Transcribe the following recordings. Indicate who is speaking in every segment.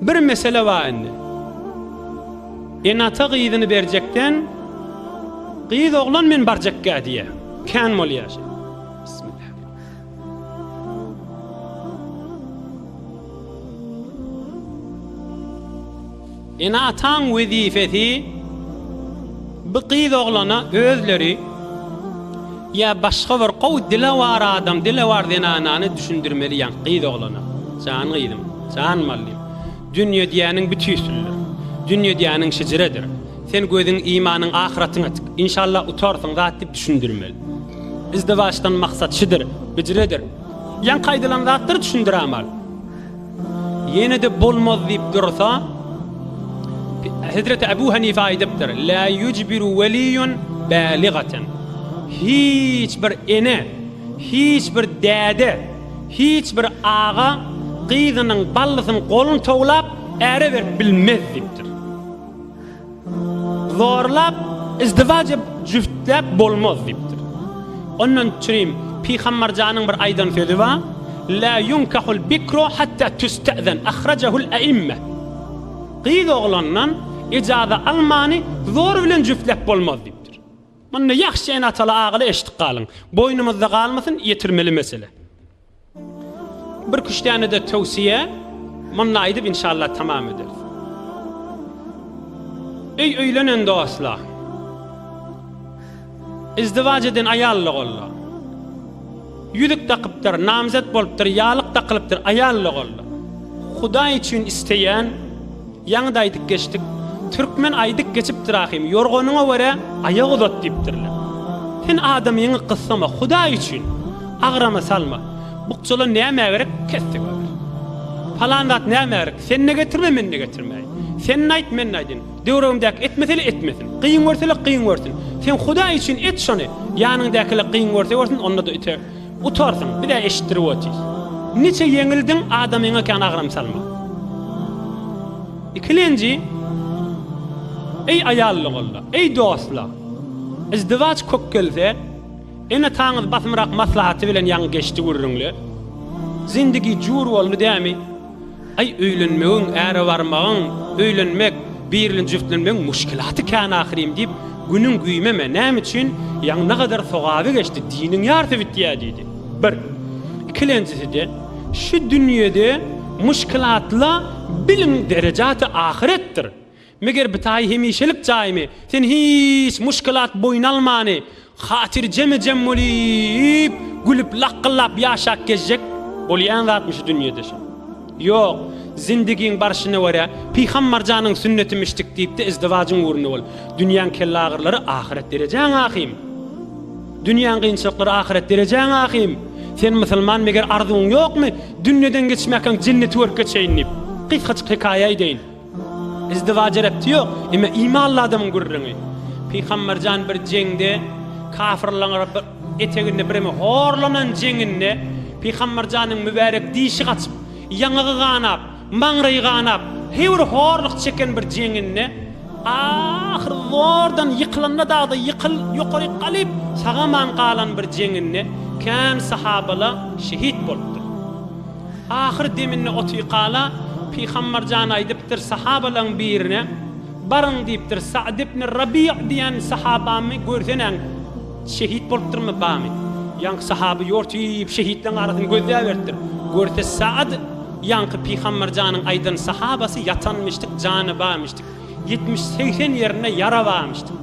Speaker 1: Bir mesele bar indi. Enata gyzyny berjekden gyz oglan men barjakka diýe. Kän bolýar. Bismillah. Ene-ataň wezipesi bu gyz oglana özleri ýa başga bir gowy dilewar adam, dilewar zenanany düşündirmeli ýaňky gyz oglana. Jan gyzym, jan mallym, dünýe diýýäniň bu tüýsülidir. Dünýe diýýäniň şejiredir. Sen gözüň, imanyň ahyratyňa tik. Inşallah utarsyň zat diýip düşündirmeli. Izdiwaçdan maksat şudur, hijredir. Ýaňky aýdylan zatlary düşündirämal. Ýene-de bolmaz diýip dursa, Hezreti Abu Hanife aýdypdyr, La yujbiru waliyun baligatan. Hiç bir ene, hiç bir däde, hiç bir aga gyzynyň ballysyny golun towlap äre berip bilmez diýipdir. Zorlap, izdiwaç edip, jüftläp bolmaz diýipdir. Ondan çürim Pygambarjanyň bir aýdan sözi bar, La yunkahul bikru hatta tüste'zen, ahrajahul e'imme. Gyz oglandan ijaza almany zor bilen jüftläp bolmaz diýipdir. Munda ýahşy ene-ataly agaly eşitip galyň. Boýnumyzda galmasyn, ýetirmeli mesele. Bir küştänede towsiýe munda aýdyp inşallah tamam ederis. Öý öýlenen dostlar. Izdiwac eden aýalla golla. Ýüzük dakypdyr, namzet bolupdyr, ýalyk dakylypdyr, aýalla golla. Hudaý üçin isteýän Ýaňy-da aýdyp geçdik. Türkmen aýdyp geçipdir ahym, Ýorganyňa görä, aýak uzat diýipdirler. Sen adamyňy gyssama, Hudaý üçin, agrama salma. Bukjalar nämä gerek, kesdi görer. Palan zat nämä gerek, sen-de getirme, men-de getirmäýin. Sen-de aýt, men-de aýdyn. Döwregimdäki etmese-le etmesin. Kyn görse-le kyn görsün. Sen Hudaý üçin et şony, ýanyňdaky-le kyn görse görsün, onda-da ite. Utarsyň, biz-ä eşitdirip otyrys. Niçe ýeňildiň, adamyňa kän agram salma. Ikilenji, Eý aýallygolla, eý dostlar! Yzdywaç kök gelse, ene-ataňyz basymrak maslahaty bilen ýaňy geçdi gürrüňle. Zindigi jur boldy dämi? Aý öýlenmegiň, äre barmagyň, öýlenmek, birli jüftlenmegiň muşkilaty kän ahyrym diýip, günüň güýmeme, näme üçin, ýaňy ne gadar sogaby geçdi, diniň ýarsy bitýä diýdi. Bir. Ikilenjisi-de, şu dünýede muşkilatla biliň derejaty ahyretdir. Meger bitaýy hemişelik jaýmy? Sen hiç muşkilat boýun almany, hatyrjeme-jem bolýyp, gülüp, lakgyllap ýaşap gezjek bolýan zatmy şu dünýede şo? Ýok, zindigiň barşyna görä, Pyhammarjanyň sünnetimi içdik diýip-de izdiwajyň ugrunda bol. Dünýäň kellaagyrylary ahyret derejäň ahym. Dünýäň kynçylyklary ahyret derejäň ahym. Sen musulman meger arzuwyň ýokmy, dünýeden geçmäkäň jenneti görüp geçeýin diýip. Gysgajyk hekaýa eýdeýin. Izdiwaja repti ýok. Emma imanly adamyň gürrüňi. Pygamberjan bir jeňde kafyrlaň eteginde birimi horlanan jeňinde Pygamberjanyň mübärek dişi gaçyp, ýaňagy ganap, maňraýy ganap, heýwir horluk çeken bir jeňinde ahyr zordan ýykylanda dagda ýykyl ýokaryk galyp sagaman galan bir jeňinde kän sahabala şehit bolupdyr. Ahyr deminde Otyykala Pygambar jan aýdypdyr sahabalaň birine, Baryň diýipdir, Sa'd ibn Rabi'a diýen sahabamy görseneň, şehit bolupdyrmy, bamy? Ýaňky sahaby ýortyp şehitleň arasyny gözläberipdir. Görse Sa'd ýaňky Pygambar janyň aýdan sahabasy ýatanmyşdyk, jany barmyşdyk. Ýetmiş, segsen ýerinde ýara barmyşdyk.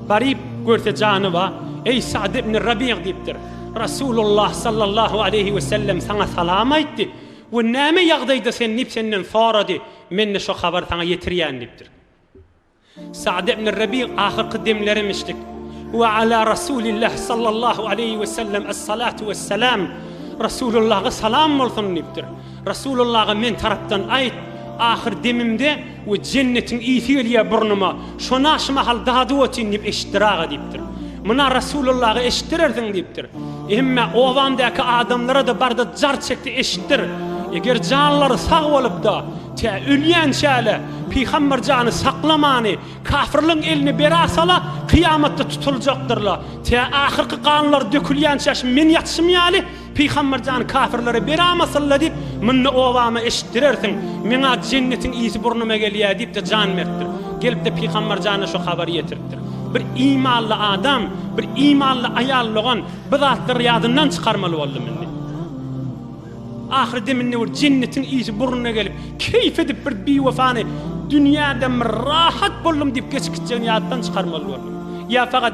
Speaker 1: Baryp görse jany bar. Eý Sa'd ibn Rabi'a diýipdir. Resulullah sallallahu aleýhi we sellem saňa salam aýtdy we näme ýagdaýda sen diýip senden sorady, men-de şo habary saňa ýetirýän diýipdir. Sa'd ibn Rabi ahyrky demlerimmişdik. We ala Resulillah sallallahu aleýhi we sellem es-salatu wes-salam Resulullaha salam bolsun diýipdir. Rasulullaga men tarapdan aýt, ahyr demimde we jennetiň ysy gelýär burnuma, şona şu mahal dady otyn diýip eşitdir aga diýipdir. Muna Rasulullaga eşitdirersiň diýipdir. Hemme obamdaky adamlara-da barda jar çekdi eşitdir. Eger janlary sag bolup-da, tä ölýänçäle Pygamber jany saklamany kafirligiň eline bera sala, kyýamatda tutuljakdyrla, tä ahyrky ganlary dökülýänçäşim men ýatyşym ýaly, Pygamber jan kafirlere bera masylla diýip mynda obama eşitdirersiň meňa jennetiň ysy burnuma gelýä diýipde jan beripdir gelipde pygamber jana şu habary ýetiripdir bir imanly adam bir imanly aýal logan bu zatlary ýadyndan çykarmaly boldy mindi ahyr deminde bir jennetiň ysy burnuna gelip keýf edip bir biwefany dünýäden bir rahat boldum diýip geçip gitjegini ýatdan çykarmaly boldy ýa fakat